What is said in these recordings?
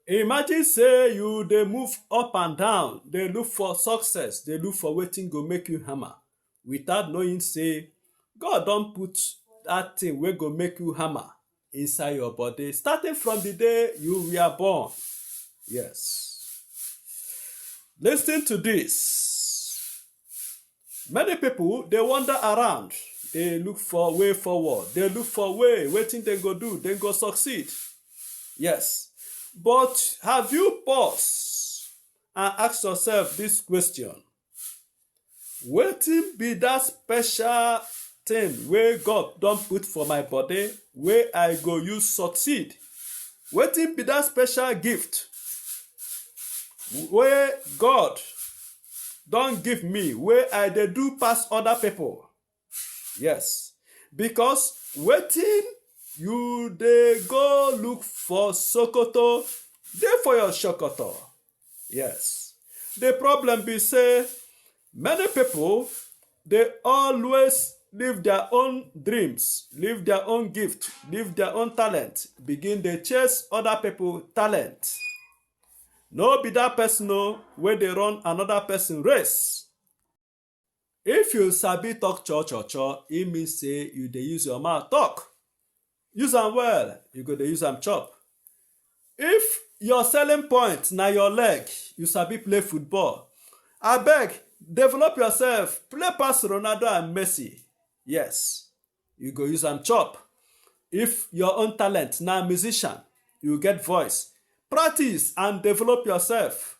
Imagine say you dey move up and down, dey look for success, dey look for wetin go make you hammer without knowing say God don put that thing wey go make you hammer inside your body starting from the day you were born. Yes. Listen to this. Many people dey wander around, dey look for way forward, dey look for way wetin dem go do, dem go succeed. Yes, but have you paused and asked yourself this question? Wetin be that special thing wey God don put for my body wey I go use succeed? Wetin be that special gift wey God don give me wey i dey do pass other people yes because wetin you dey go look for sokoto dey for your sokoto yes the problem be say many people dey always leave their own dreams leave their own gift leave their own talent begin dey chase other people talent no be that person o wey dey run another person race if you sabi talk cho cho cho e mean say you dey use your mouth talk use am well you go dey use am chop if your selling point na your leg you sabi play football abeg develop yourself play pass ronaldo and messi yes you go use am chop if your own talent na musician you get voice practice and develop yourself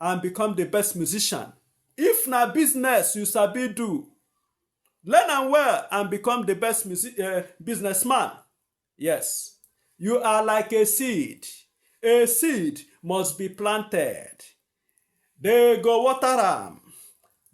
and become the best musician if na business you sabi do learn am well and become the best music, uh, businessman Yes, you are like a seed. A seed must be planted. They go water am.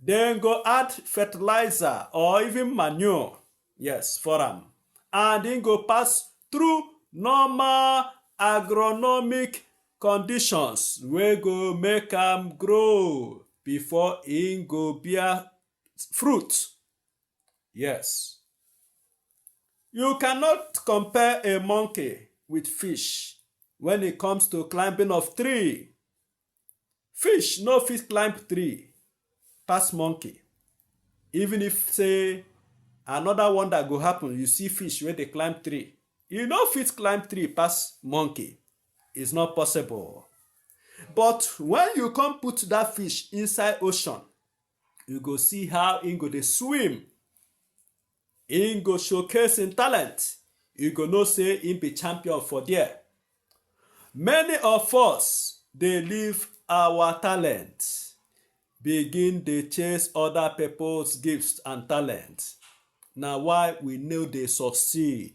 Then go add fertilizer or even manure. Yes, for am. And then go pass through normal agronomic conditions wey go make am grow before im go bear fruit. Yes. You cannot compare a monkey with fish when it comes to climbing of tree. Fish no fit climb tree pass monkey. Even if say another one that go happen, you see fish where they climb tree. You no fit climb tree pass monkey. It's not possible. But when you come put that fish inside ocean, you go see how he go dey swim he go showcase him talent you go know say he be champion for there many of us dey leave our talent begin dey chase other people's gifts and talent na why we no dey succeed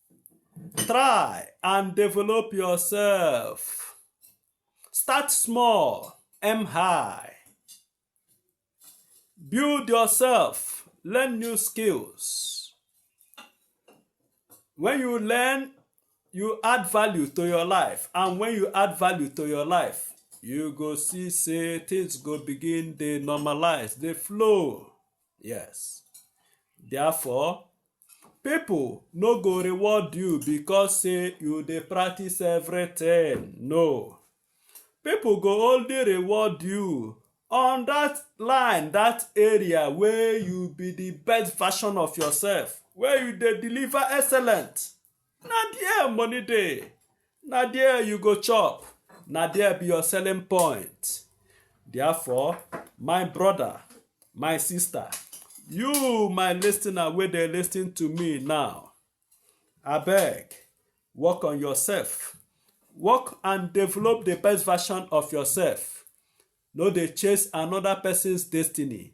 try and develop yourself. Start small, aim high. Build yourself, learn new skills. When you learn, you add value to your life. And when you add value to your life, you go see say things go begin dey normalize, dey flow. Yes. Therefore, people no go reward you because say you dey practice everything. No. People go only reward you on that line, that area where you be the best version of yourself, where you dey deliver excellent. na there money dey na there you go chop na there be your selling point therefore my brother my sister you my listener wey dey listen to me now abeg work on yourself work and develop the best version of yourself no dey chase another person's destiny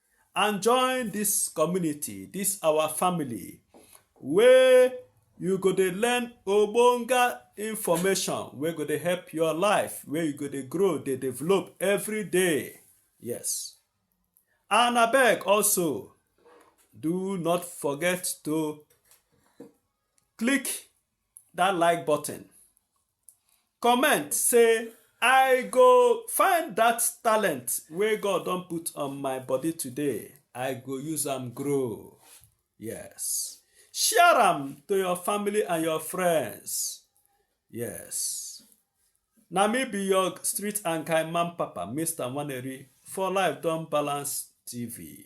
and join this community this our family wey you go dey learn ogbonge information wey go dey help your life wey you go dey grow dey develop every day yes and abeg also do not forget to click that like button comment say i go find that talent wey god don put on my body today i go use am grow yes share am to your family and your friends yes na me be your street and kind man papa mr nwaneri for life don balance tv